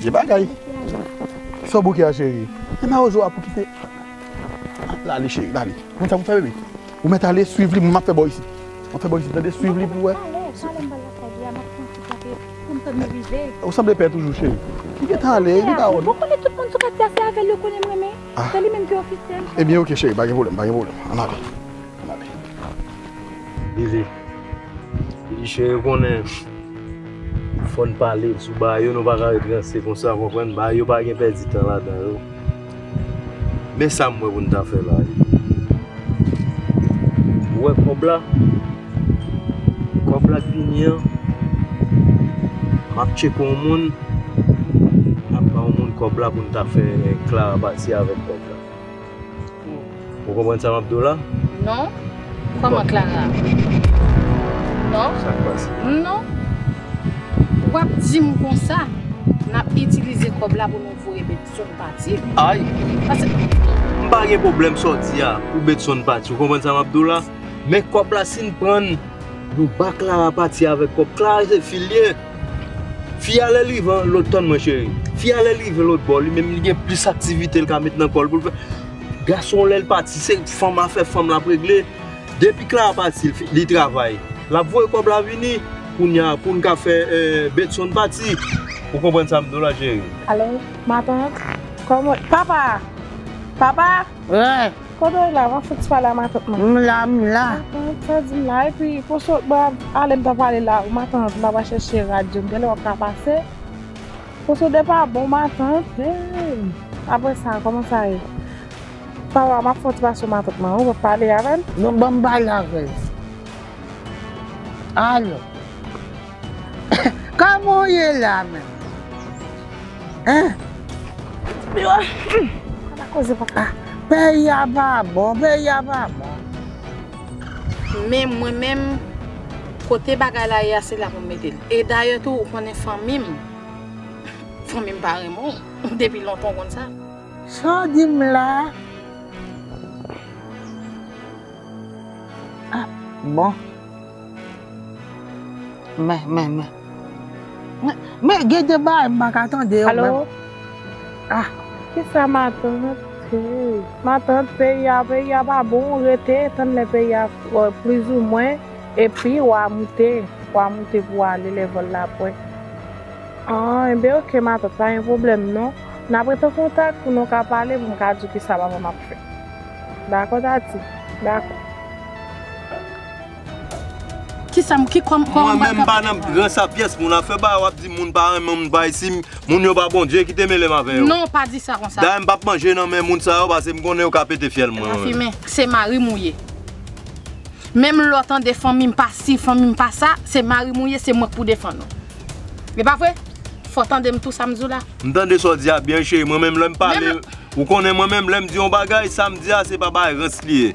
Gye bagay Kisa w bouke a cheri E ma ozo a pou kite La ale cheri la ale Gade sa pou fè bebe Ou mèt ale swiv li m ap fè bò isit M ap fè bò isit tande swiv li pou wè Ou sanble pè toujou cheri Li gentan ale li pa wè nou Ebyen ok cheri pa gen pwoblèm pa gen pwoblèm An n ale An n ale Bebe Li chè yo konnen fòn pale sou ba yo nou baka ret ranse konsa ou konprann ba yo pa gen pèdi tan la dan yo men sa mwen pou n ta fè la ou wè kòb la kòb la k vini an map tcheke yon moun map ba yon moun kòb la pou n ta fè klara pati avèk kòb la. Ou konprann sa map diw la? Non, kòman Clara? Non, sak pase? Non, wap dim konsa nap itilize kòb la pou nou voye Bedson pati wi. Ay! Pase. M pa gen pwoblèm sa w di a pou Bedson pati ou konprann sa map diw la? Men kòb la sin prann nou ba Clara pati avèk kòb Clara se fil li ye. Fi a lèl rive an lòt tann mwen cheri Fi a lèl rive lòt bò li menm li gen plis aktivite li ka met nan kòl poul fè Gason an lèl pati se fanm afè fanm lap regle Depi Clara pati li travay lap voye kòb la vini Kounya poun ka fè Bedson pati Ou konprann sam diw la cheri. Alo ma tante kòman papa! Papa! Ren! Kote w la wap fouti pale a matant mwen. M la m la. Matant sa di m la epi pou sot bwa ale m ta pale la ou matant m aba chèche radyo m gèlè wap ka pase pou sot epa bon matant eeyy aprè sa kòman sa ye pa wa map fon ti pase w matant mwen ou wap pale avè m. Non banm pale avè l. Alo. Kman w ye la menm? Peyi a pa bon, peyi a pa bon. Men mwen menm, kote bagay la ye a se la pou m mete l. E dayè tou ou konnen fanmi m, fanmi m pa renmen w, depi lontan ou konn sa. Sa w di m la? Bon. Men, men, men. Men, gen de bagay m pa ka tande yo menm. Alo? Ah! Kisa matant? Matant, peyi a, peyi a pa bon, rete, tann lè peyi a plizoumwen, epi w a moute, w a moute pou w ale lè vòl la pre. Ah, enben ok matant, pa gen pwoblèm non. N ap rete an kontak pou nou ka pale, pou m ka di w kisa papa m ap fè. Dakò Tati? Dakò. Kisam ki kòm kòm Mwen menm mpa nan gran sapiens moun ap fè bagay wap di moun pa renmen moun pa ici moun yo pa Bondye kite melem avè yo Non pa di sa konsa Dayè mpap manje nan men moun sa yo pase mkonnen yo ka pete fyèl mwen Rafi men se marim ou ye menm lèw tande fanmim pa si fanmim pa sa se marim ou ye se mwen k pou defann ou e pa vre fòw tandem tou sam diw la. Mtande sa w di a byen cheri mwen menm lèm pale ou konnen mwen menm lèm di yon bagay sam di a se pa bagay rans li ye.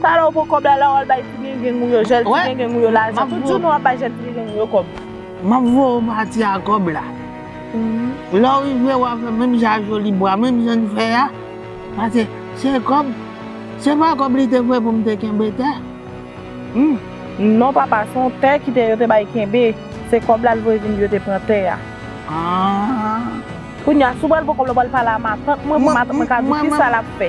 Talè ou pou kob la la wal bay ti gengeng ou yo jel ti gengeng ou yo la jan tout jounen wap bay jel ti gengeng ou yo kob. Map voye w pati a kob la. Lè w rive wa fè menm jan a Joly Bois menm jan n fè a pase se kob se pa kob li te voye pou m te kenbe tè humm. Non papa se yon tè kite yo te bay kenbe se kob la l voye vin di yo te pran tè a. Ahh. Kounya si w pral pran kob la w pral pale a matant mwen pou matant mwen ka di w kisa lap fè.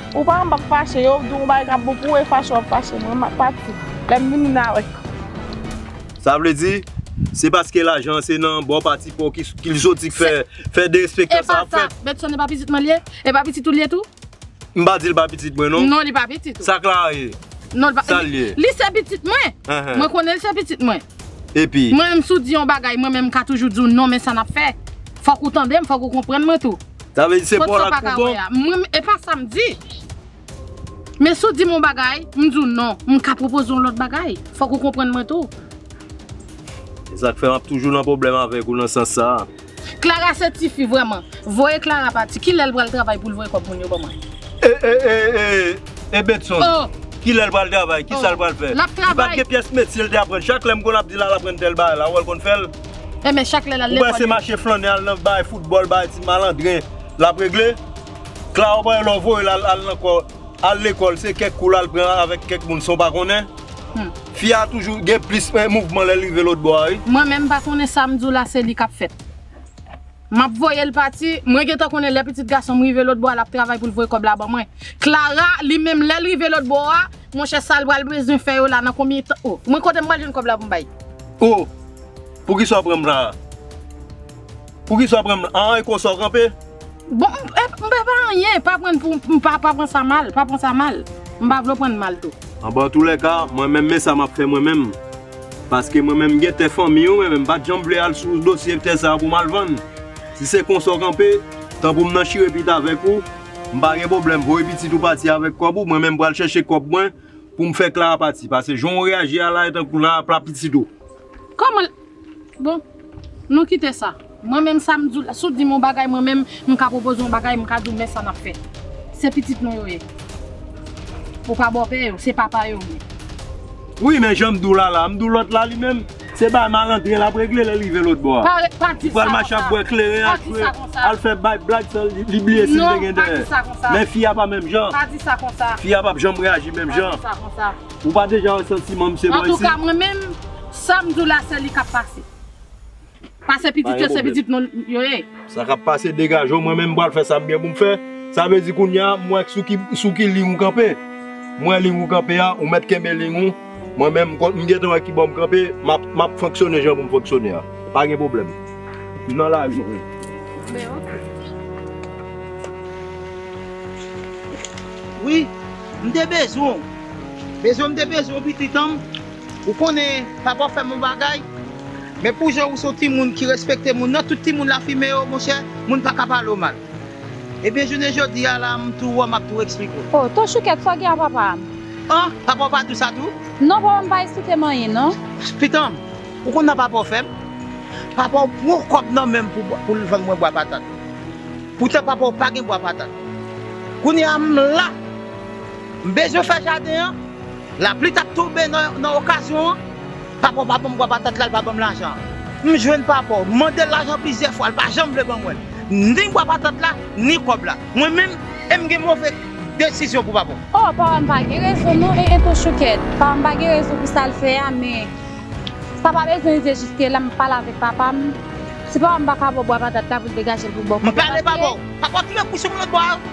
Ou pa wè m pa fache, yo di w yon bagay k ap bon pou ou e fache w ap fache mwen, m ap pati. Lè m vini n a wè. Sa vle di, se paske lajan an se nan bò pati pa w ki li soti k fè derespektan sa a ap fèt. Epa sa, Bedson epa pitit mwen li ye? E pa pitit ou li ye tou? M pa di l pa pitit mwen non. Non li pa pitit ou. Sa Clara ye? Non li pa. Sa l ye? Li se pitit mwen. Mwen konnen li se pitit mwen. Epi? Mwen menm si w di yon bagay mwen menm m ka toujou di w non men sa n ap fè. Fòk ou tande m, fòk ou konprann mwen tou. Sa vle di se bor la k pi bon? Mwen e pa sa m di. Men si w di m yon bagay, m di w non, m ka pwopoze w yon lòt bagay. Fòk ou konprann mwen tou. Se sa k fè m ap toujou nan pwoblèm avèk ou nan sans sa a. Klara se tifi vrèman. Voye Klara pati. Ki lè l pral travay pou l voye kòb moun yo ban mwen? E e e e e Bedson. O! Ki lè l pral travay? Ki sa l pral fè? L ap travay. Li pa t gen pyès metye l te aprann. Chak lè m konn ap di l al aprann tèl bagay la, wè l konn fè l? E men chak lè lal lekòl yo. Ou panse mache flannen al nan bay foutbòl bay ti malandren lap regle? Claro bay lè w voye l al nan kò al lekòl se kèk kou lal pran avèk kèk moun san w pa konnen. Fi a toujou gen plis mouvman lè l rive lotbò a wi. Mwen menm m pa konnen sa m di w la se li kap fèt. Map voye l pati, mwen gentan konnen lè pitit gason m rive lotbò a lap travay pou l voye kòb la ban mwen. Clara li menm lè l rive lotbò a. Monchè sal pral bezwen fè yo la nan konbyen tan oh mwen kotem pral jwenn kob la poum bay. Oh poukisa w pranm la a. Poukisa w pranm la aa e konsa w kanpe. Bon m pe pa anyen pa prann pou pa pran sa mal pa pran sa mal m pa vle w prann mal tou. Anben antoulèka mwen menm men sa map fè mwen menm paske mwen menm m gen tè fanmi wi mwen menm m pat janm vle al sou dosye tè sa poum al vann si se konsa w kanpe tan poum nan chire pit avèk ou. M pa gen pwoblèm voye pitit ou pati avèk kòb ou mwen menm pral chèche kòb mwen pou m fè Clara pati pase jan w reyaji a la e tankou la ap la pitit ou. Kòman l Bon nou kite sa mwen menm sa m di w la si w di m yon bagay mwen menm m ka pwopoze yon bagay m ka di w men sa n ap fè se pitit nou yo ye ou pa bòpè yo se papa yo ou ye. Wi men jan m di w la la m di w lòt la li menm Se bay malandren lap regle lè rive lòt bò a. Pa ret pa di sa konsa. Li pral mache ap bwè kleren ak jwe. Pa di sa konsa. Al fè bay blag san li bliye sil te gen dèyè. Non pa di sa konsa. Men fi a pa menm jan. Pa di sa konsa. Fi a pap janm reaji menm jan. Pa di sa konsa. Ou pa deja wè santiman misye bò isi. Antouka mwen menm sam diw la se li kap pase. Pase pitit yo se pitit moun yo ye. Sa kap pase degaje w mwen menm pral fè sa m gen pou m fè sa vle di kounya m wè sou ki liy ou kanpe m wè liy ou kanpe a ou mèt kenbe liy ou mwen menm m gentan wè kibò m kanpe map fonksyone jan pou m fonksyone a pa gen pwoblèm m nan lavi m. Ben ok. Wi m te bezwen w bezwen m te bezwen w pitit an m. Ou konnen papa w fè bon bagay, men pou jan ou se yon timoun ki respekte moun nan, tout timoun lafimen yo monchè, moun pa ka pale w mal. Ebyen jounen jodi a la m tou wè w m ap tou eksplike w. Oh, ton Choukèt, sa w gen a papa m? An, papa w pa di w sa tou? Non papa m pa eksplike m anyen non. Pitan m, ou konn sa papa w fè m? Papa w pran yon kòb nan men m pou l vann mwen bwa patat. Poutan papa w pa gen bwa patat. Kounye a m la, m bezwen fè jaden an. Lapli tap tonbe nan okazyon an. Papa w pa ban m bwa patat la, l pa ban m lajan an. M jwenn papa w, m mande l lajan plizyè fwa, l pa janm vle ban mwen l. Ni bwa patat la, ni kòb la. Mwen menm, e m gen move desizyon pou papa w. O, papa m pa gen rezon non, e entou choukèt. Papa m pa gen rezon pou sa l fè a, men sa pa bezwen rive jiske la, m pale avèk papa m. Si papa m pa ka ba w bwa patat la pou l degaje l pou ba w kòb la, paske. M pale papa w. Papa w tounen kouche m lòtbò a.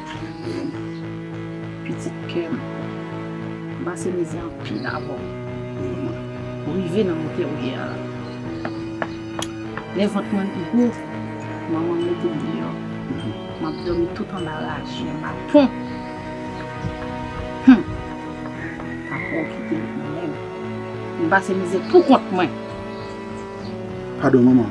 Amen pitit kèm m pase mizè anpil avèw manman ou rive nan motè ou ye a la lè vant mwen t gou manman m metem deyò map domi tout anba raje baton humm papaw kitem nan menw m pase mizè pou kont mwen. Padon manman,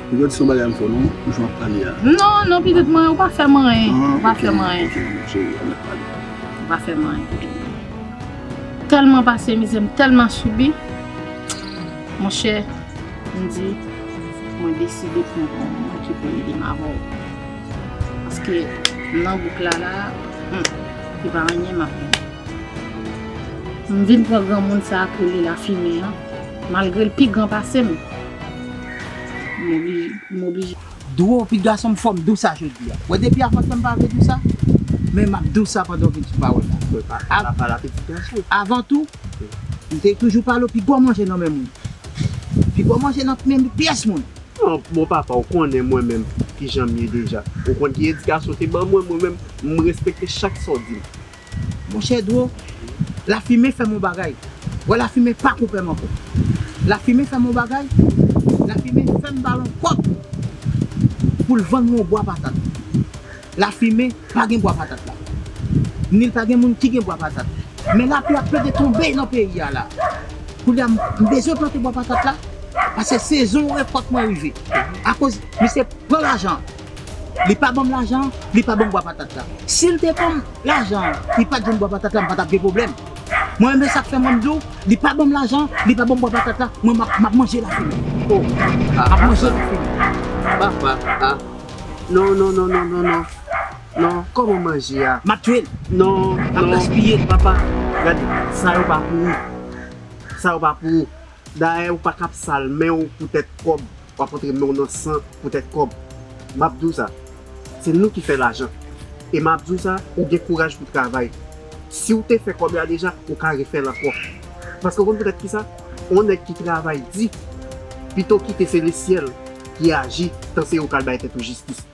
pitit se yon bagay m fè w non, jan w ap pale a. Non, non pitit mwen, ou pa fè m anyen, ou pa fè m anyen. Ok manman cheri, an nou pale. Ou pa fè m anyen. M tèlman pase mizè, m tèlman sibi, monchè, m di, mwen deside pran pou m mwen ki pou ede m avè w. Paske m nan bouk la la, hum, se pa anyen m ap vin. M vin pran granmoun sa a ki rele lafimen an. Malgre l pi gran pase m. M oblije. Dwe w pi gason m fò m dou sa jodi a. Wè depi avan tan m pa vle dou sa. Men m ap dou sa pandan w vin sou pawòl la. Fò w pa fè la pala pitit gason. Avan tou, m te toujou pale w pi gwo manje nan men moun. Pi gwo manje nan men pyès moun. An bon papa w konnen mwen menm kijan m ye deja. Ou konn ki edikasyon w te ban mwen. Mwen menm, m respekte chak sa w di m. Monchè Dro, lafimen fè m on bagay. Wè lafimen pa koupè m ankò. Lafimen fè m on bagay, lafimen fè m ba l on kòb pou l vann mwen on bwa patat. Lafimen pa gen bwa patat la. Ni l pa gen moun ki gen bwa patat. Men lapli ap plede tonbe nan peyi a la. Koulye a m bezwen plante bwa patat la, pase sezon rekòt mwen rive. Akoz misye pran lajan an. Li pa banm lajan an, li pa banm bwa patat la. Sil te banm lajan an, li pat jwenn bwa patat la, m patap gen pwoblèm. Mwen menm se sak fè mwen di w, li pa banm lajan an, li pa banm bwa patat la, mwen map manje lavi m. Oh, map manje lavi m. Papa, ah. Non, non, non, non, non, non. Non, kòman manje a? Map tye l. Non, non. Map gaspiye l. Papa, gade, sa yo pa pou ou. Sa yo pa pou ou. Dayè ou paka ap sal menw pou tèt kòb wap antre menw nan san pou tèt kòb map diw sa se nou ki fè lajan e map diw sa ou gen kouraj pou travay siw te fè kòb la deja ou ka refèl ankò paske ou konn poutèt kisa on nèg ki travay di pito kite se lesyèl ki aji tan se ou kal bay tèt ou jistis.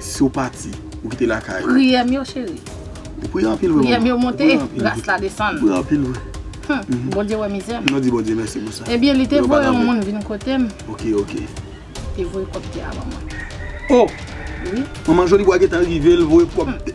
Si w pati, ou kite lakay. Priyè m yo cheri. Ou priye anpil vre manman. Priyè m yo monte, gras la desann. Ou priye anpil vre. Hum, Bondye wè mizè m. Nou di Bondye mèsi pou sa. Ebyen li te voye yon moun vin kote m. Ok, ok. Li te voye kòpte a ban mwen. Oh! Wi. Manman Jolibwa gentan rive, l voye kòpte.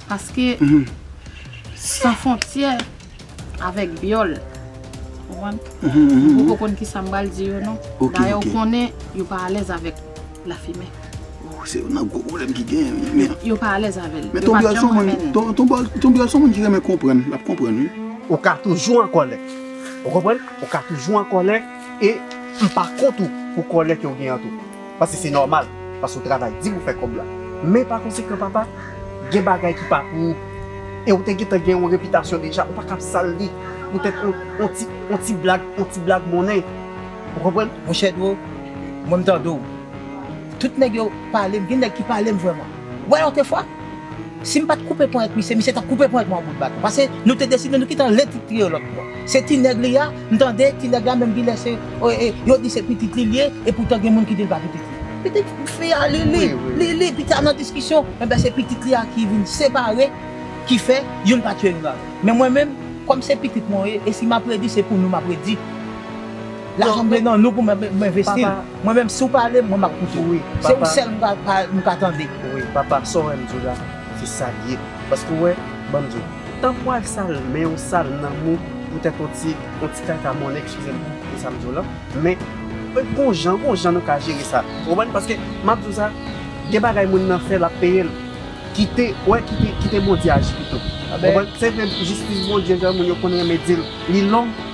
Paske san fontyè avèk byòl. Mpoko konn kisa mpral di yo non. Dayè ou konnen yo pa alèz avèk lafimen. Se youn nan gwo pwoblèm ki genyen wi. Yo pa alèz avèl. Men ton byòl son moun, ton byòl son moun ki renmen konprann, lap konprann wi. Ou ka toujou an kòlè. Ou konprann? Ou ka toujou an kòlè e mpa kont ou pou kòlè kew gen an tou. Pase se nòmal pase ou travay di pou fè kòb la men pa konsekan papa gen bagay ki pa pou ou e ou te gentan gen yon repitasyon deja ou paka ap sal li poutèt yon ti yon ti blag yon ti blag monnen ou konprann. Monchè Dro mwen m tande w tout nèg yo pale m gen nèg ki pale m vrèman. Wè lòt fwa, si m pa t koupe ponyèt ak misye, misye t ap koupe ponyèt mwen ak bout baton. Pase nou te deside nou kite an lè ti triyo lòt bò. Se ti nèg li a, m tande ti nèg la menm gen lè se, yo di se pitit li l ye, epoutan gen moun ki di l pa pitit li. Pitit fi a li, li, li, li, pitit a nan diskisyon. Enben se pitit li a ki vin separe, ki fè youn pa tiye youn avè l. Men mwen menm, kòm se pitit mwen yo ye, e si m ap redi se pou nou m ap redi. Lajan m vle nan nou pou m envesti l. Mwen menm si w pale m mwen map koute w wi. Se ou sèl m ka tande. Wi papa sa w wè m di w la se sa l ye. Paske w wè ban m di w tank w al sal men w sal nanm ou poutèt on ti on ti kaka monnen eskize m pou sa m di w lan. Men gon jan gon jan nou ka jere sa ou konprann. Paske map di w sa gen bagay moun nan fè lap peye l. Kite wè kite kite Bondye aji pito. Ou konprann se vre jistis Bondye jan moun yo konn renmen di l li long.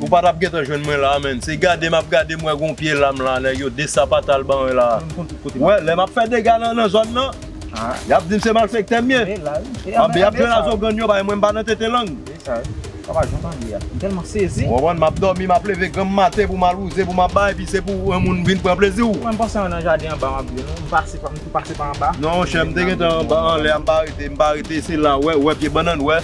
Ou pa tap gentan jwenn mwen la menn se gade map gade m wè gon pye lam la nèg yo desapatal ban mwen la wè lè map fè dega nan zòn nan yap dim se malfektè m ye anben yap jwenn azogann yo bay mwen m pa nan tete lang ou konprann map dòmi map leve granm maten pou mal wouze pou mal bay epi se pou yon moun vin pran plezi w non monchè m te gentan anba anlè a m pa rete m pa rete se la wè wè pye bannann wè.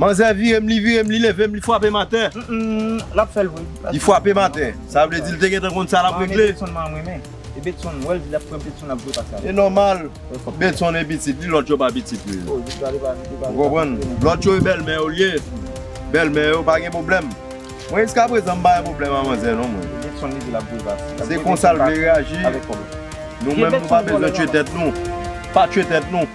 Manzè vire m li vire m li leve m li fwape m atè. Mmmm lap fèl vre. Li fwape m atè. Sa vle di li te gentan konn sa lap regle. Mwen renmen Bedson man renmen. E Bedson wèl di lap pran Bedson lap jwe pase avèl. E nòmal. Bedson e pitit li lòt yo pa pitit li. Oh jis la li pa li pa. Ou konprann. Lòt yo e bèlmè yo li ye. Bèlmè yo pa gen pwoblèm. Mwen jiska prezan m pa gen pwoblèm a manzè non mwen. E Bedson li di lap jwe pase. Se konsa l vle reyaji. Nou menm nou pa bezwen tchwe tèt nou. Pa tchwe tèt nou.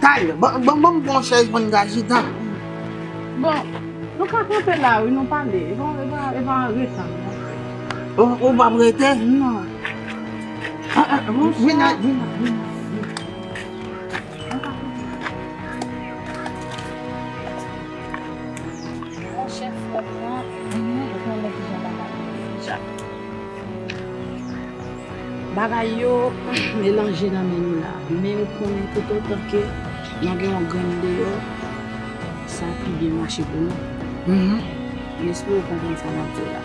Tay, banm yon bon chèz pou n ka chita. Bon, nou ka kanpe la wi, nou pale. E pa rete an. Ou pa prete? Non. Vin la, vin la, vin la. Bagay yo melanje nan men nou la, men yo konnen tout otan ke nan gen yon grenn deyò, sa ap pi byen mache pou nou. M espere ou konprann sa m ap di w la.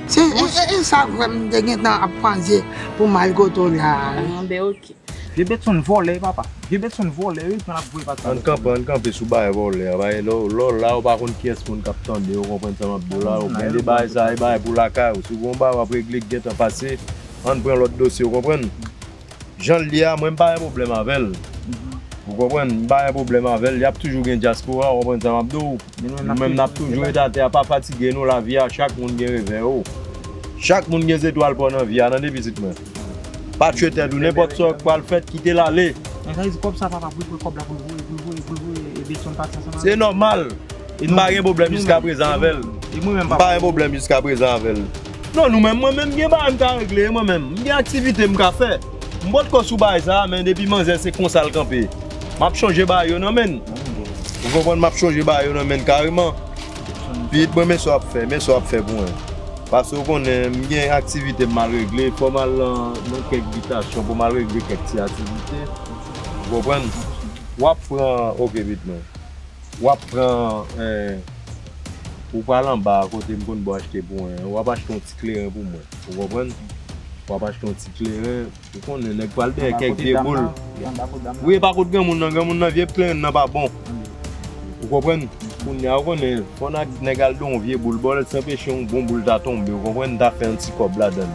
Se sa vre m te gentan ap panse pou m al kote w la. Bon, ben ok. Vye Bedson vòlè papa. Vye Bedson vòlè wi tan lap voye pati sa. Ann kanpe ann kanpe sou bagay vòlè a bagay lè w la ou pa konn kiyès moun kap tandew ou konprann sa map diw la ou gen de bagay sa e bagay pou lakay ou si w gen yon bagay wap regle ki gentan pase ann pran lòt dosye ou konprann jan l ye a mwen m pa gen pwoblèm avèl ou konprann m pa gen pwoblèm avèl yap toujou gen dyaspora ou konprann sa map diw nou menm nap toujou ret atè a pa fatige nou lavi a chak moun gen revè yo chak moun gen zetwal paw nan vi a tande pitit mwen. Pa tchwe tèt ou nenpòt sa k pral fèt kitel ale. Men sa vle di kòb sa papa pou l pran kòb la pou l voye pou l voye pou l voye e Beson pa sa sa. Se nòmal m pa gen pwoblèm jiska prezan avèl m pa gen pwoblèm jiska prezan avèl non nou menm mwen menm m gen bagay m ka regle mwen menm m gen aktivite m ka fè m potko sou bagay sa men depi manzè se konsa l kanpe map chonje bagay yo nan men n ou konprann map chonje bagay yo nan men n kareman. Piit mwen men sa w ap fè, men sa w ap fè pou mwen. Pase w konnen m gen aktivite m mal regle, fò m al nan kèk bitasyon pou m al regle kèk ti aktivite. Ou konprann? W ap pran, oke piit mwen. W ap pran, ou pral anba a kote m konn bo achte pou mwen an, w ap achte yon ti kleren pou mwen. Ou konprann? W ap achte yon ti kleren. Ou konnen nèg pral dèyè kèk vye boul. Wi epa kot granmoun nan, granmoun nan vye plenyen nan pa bon. Ou konprann? Kounya ou konnen fò nèg al dèyè yon vye boul baw lèt san peche yon bon boul ta tonbe ou konprann ta fè yon ti kòb ladann.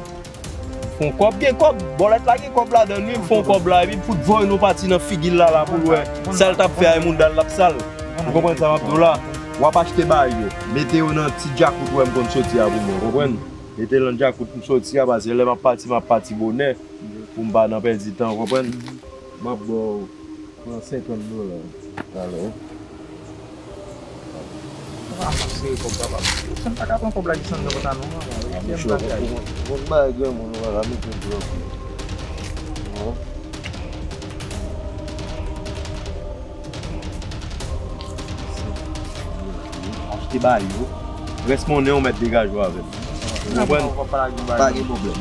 Fon kòb gen kòb, bòlèt la gen kòb ladann wi, fon kòb la epi fout voye yon pati nan figil lala poul wè sal tap fè a moudal lap sal. Ou konprann sa map diw la? Wap achte bayo, mete yo nan ti djakout wèm konn soti a pou mwen ou konprann? Mete lan djakout m soti a paske lè map pati map pati bonè pou m pa nan pèdi tan ou konprann. Map baw pran 50 dola talè. Ou pa janm sere kòb papa misye. Sam paka pran kòb la ki san nan kontan non manman yo fèm bagay. Bon bagay granmoun ou paka mete blòf non. Achte ba yo. Rès monnen ou mèt degage ou avèm. Ou konprann? Pa gen pwoblèm.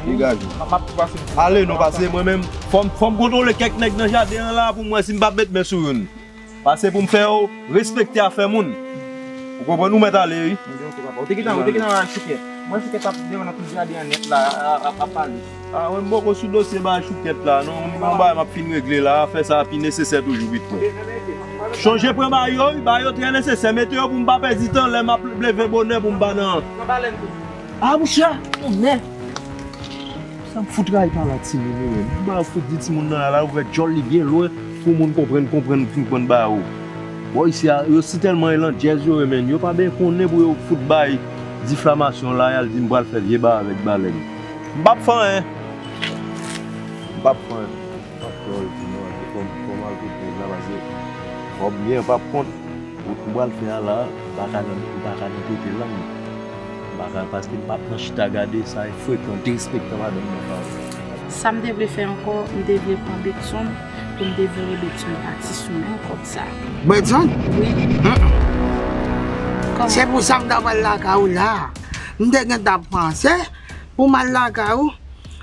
Degage ou. Ale nou pase mwen menm. Fò m kontwole kèk nèg nan jaden an la pou m wè si m pa p met men sou youn. Pase pou m fè ou respekte afè moun. Ou konprann? Ou mèt ale wi. Ou te gentan wè chouke? Mwen chouke t ap demennen tout jaden an nèt la ap pale. Ah mwen poko sou dosye bay choukèt la non mwen gen yon bagay map fin regle la afè sa pi nesesè toujou pitkò chonje pran ba yo wi ba yo trè nesesè mete yo poum pa pèdi tan lè map leve bonè poum pa nan ah mouche a tonnè sam fout rayi pala timoun yo menm ba yo fout di timoun nan ala ouvè djòl li byen lwen pou moun konprann konprann fin konn ba yo bò isi a yo si tèlman e landjèz yo ye menn yo pa ben konnen pou yo fout bay diflamasyon la yal dim pral fè vye ba avèk balèn. M pap fè anyen. M pap fè anyen. M pap fè anyen ti nèg la fè twò mal pou nèg la pase fò m byen m pap kont wout m pral fè a la m paka nan m paka nan pote lang m paka paske m pap nan chita gade sa e frekan derespektan madanm nan pa bon. Sa m te vle fè ankò m te vle pran Bedson pou m te voye Bedson pati sou menm kòb sa. Bedson? Wi. Hum hum. Kòman? Se pou sa m ta pral lakay ou la a. M te gentan ap panse pou m al lakay ou,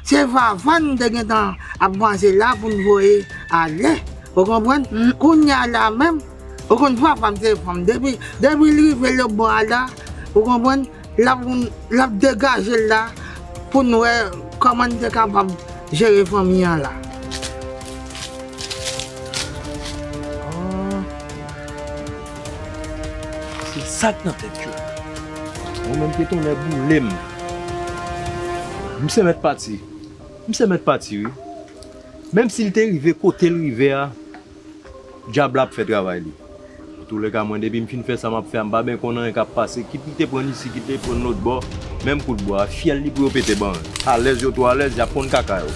se Vava n te gentan ap panse la pou n voye ale, ou konprann. Kounye a la menm, ou konn Vava m se fanm, depi l rive lebò a la, ou konprann, l ap degaje l la pou n wè kòman n te kapab jere fanmi an la. Se sak nan tèt yo. Mwen menm ke tonnè boulem. Misye mèt pati. Misye mèt pati wi. Menm sil te rive kotel rive a djab la ap fè travay li. Nan tou lèka mwen depim fin fè sa map fè a mpa ben konn anyen kap pase kit li te prann isi kit li te prann lotbò menm kout bwa a fyèl li pou yo pete bann. Alèz yo twò alèz yap konn kaka yo.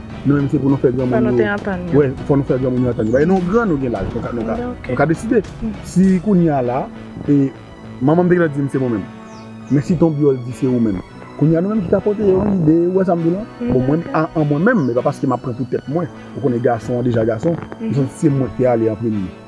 Nou menm se pou nou fè gran moun yo Fò nou fè gran moun yo antann yo Paske nou gran nou gen laj Nou ka deside Si kounye a la Manman m te gentan di m se mwen menm Men si ton byòl di se ou menm Kounye a nou menm ki ka pote yon ide Ou wè sa m di w la Bon mwen an mwen menm E pa paske m ap pran pou tèt mwen Ou konnen gason an deja gason Mwen santi se mwen ki te ale an premye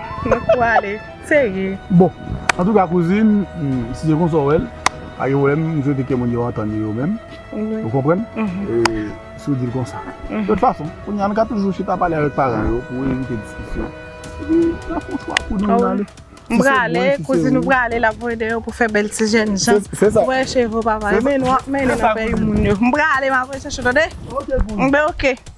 Mwen kou ale serye. Bon antouka kouzin si se konsa w wè l pa gen pwoblèm m swete ke moun yo antann yo yo menm ou konprann si w di l konsa. De tout fason kounye a nou ka toujou chita pale avèk paran yo pou evite diskisyon epi n ap fè yon chwa pou nou nou ale. M prale kouzin ou prale l ap voye dèyè w pou fè bèl ti jènjan ou wè cheve w pa pale mennen w ap mennen nan peyi moun yo. M prale m ap recherche w tande. Ok kouzin. M be ok.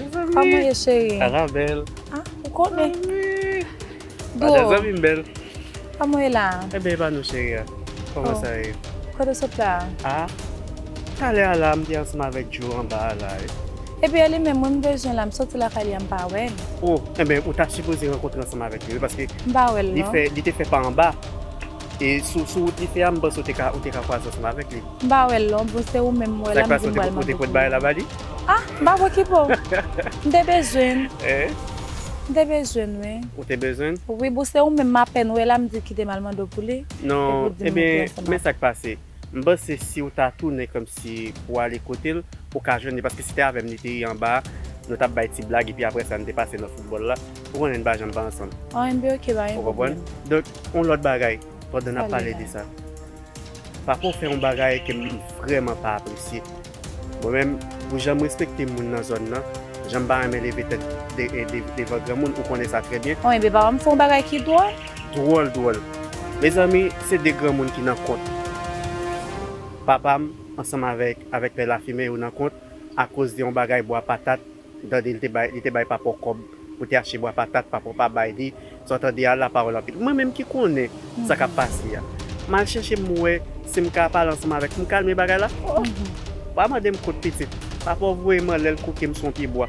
Koman ye cheri? Sa va bèl. Ah, ou konnen. Bro. Sa zanmi m bèl. Koman ye la? Eh ben e pa nou cheri a. Koman sa ye? Kote w sot la? Ah, talè a la m te ansanm avèk Djo anba a la wi. Epi e li menm mwen m bezwen l la, m soti lakay li a m pa wè l. Oh, eh ben ou ta sipoze rankontre ansanm avèk li wi paske M pa wè l non. li te fè pa anba e sou wout li fè a m panse ou te ka kwaze ansanm avèk li. M pa wè l lon, bon se ou menm m wè la m di m pral mande pou li. Ah m pa bwè kibo. M te bezwen l. M te bezwen l wi. Ou te bezwen l? Wi bon se ou menm m apèn wè la m di kite m al mande w pou li. Non ebyen men sa k pase m panse si w ta tounen kòmsi pou w ale kote l ou ka jwenn li paske se te avè m li te ye anba a nou t ap bay ti blag epi aprè sa n te pase nan foutbòl la ou konnen n pa janm pa ansanm. An enben ok pa gen pwoblèm. Ou konprann? Donk yon lòt bagay pandan n ap pale de sa. Pako fè yon bagay ke m vrèman pa apresye. Mwen menm, pou jan m respekte moun nan zòn nan, jan m pa renmen leve tèt devan granmoun, ou konnen sa trè byen. Mwen menm, papa m fè yon bagay ki dwòl. Dwòl, dwòl. Mezanmi, se de granmoun ki nan kont. Papa m ansanm avèk Pè Lafimen yo nan kont akoz de yon bagay bwa patat. Ou tande li te bay papaw kob pou te achte bwa patat papaw pa bay li sa ou tande a la pawol anpil mwen menm ki konnen sa kap pase a mal chèche m wè sim ka pale ansanm avèk m kalme bagay la oh pa mandem kot pitit papaw voyem anlè l kouke m sou yon pye bwa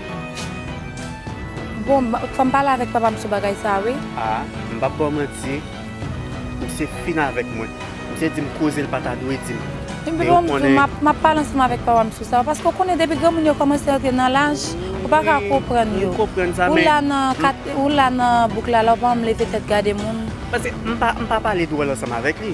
Bon, fò m pale avèk papa m sou bagay sa a wi. A, m p ap ba w manti, misye fin avèk mwen. Misye di m koze l pa ta dwe di m. Epi bon, m di w, m ap pale ansanm avèk papa m sou sa. Paske ou konnen depi granmoun yo kòmanse antre nan laj, ou pa ka konprann yo. Ou la nan bouk la la, ou pa menm leve tèt gade moun. Paske m pa pale dwòl ansanm avèk li.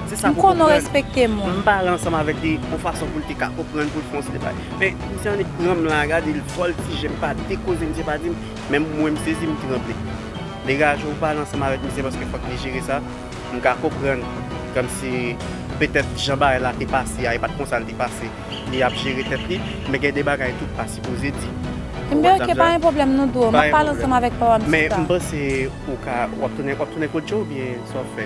Se sa pou w konprann. M konnen w respekte moun. M pale ansanm avèk li yon fason pou l te ka konprann, pou l fè yon seri de bagay. Misye annik pranm la gade l voltije m pa de koze misye pa dim menm mwen m sezi m tranble degaje w pale ansanm avèk misye paske fòk li jere sa m ka konprann kòmsi petèt jan bagay la te pase a e pat konsa l te pase li ap jere tèt li men gen de bagay tou pa sipoze di ou wè sa m di la pa yon pwoblèm men m panse ou ka wap tounen wap tounen kot Joe oubyen sa wap fè.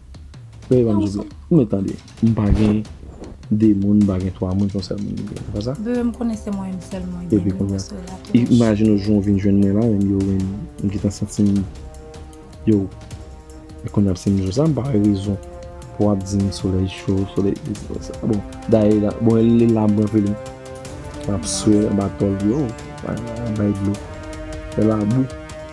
Peye banm souple. Ou mèt tande. M pa gen 2 moun m pa gen 3 moun son sèl moun m gen se pa sa? Bebe m konnen se mwen menm sèlman ki gen nimewo sa la tou monchè. Imajine w jan w vin jwenn mwen la menm yo wè m m gentan santi m yo e kounya ap se m jou sa m pa wè rezon pou wap di m solèy cho solèy sesi solèy sa bon dayè la bon lè l la m pran plim map swe anba tòl yo bay dlo fè labou.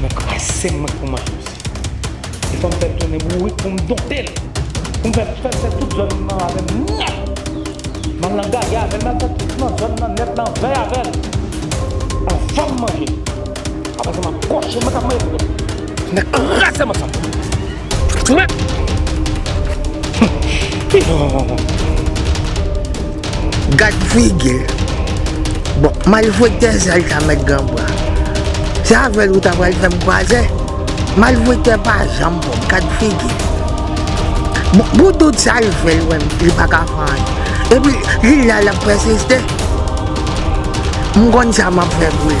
Mwen krasem mwen pou mayom si. E fòm fèl tounen bourik poum dontel. Poum fèl fèl fè tout zòn nan avèm nèt. Mal nan gaga avèl mal fè tout nan zòn nan nèt nan vèy avèl. Anvanm manjel. Apresa map kòche mwen kap manje tout. Mwen krasem ansanm. Gad figi l. Bon, malfektè sèl sa mèt gran bra. Se avè l ou ta pral fè m kwaze? Malfektè pa janm bon. Gad figi l. Bon, pou tout sa l fè l wè m, li pa ka fè anyen. Epi, li la l ap pèsiste. M konn sa m ap fè pou li.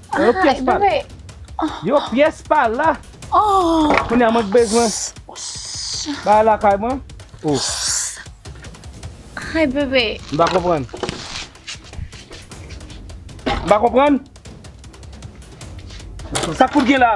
Nan yon pyès pa la. Yon pyès pa la. Kounye a mwen k bezwen. Bagay lakay mwen. Ay bebe. M pa konprann. M pa konprann. Sa k pou t gen la.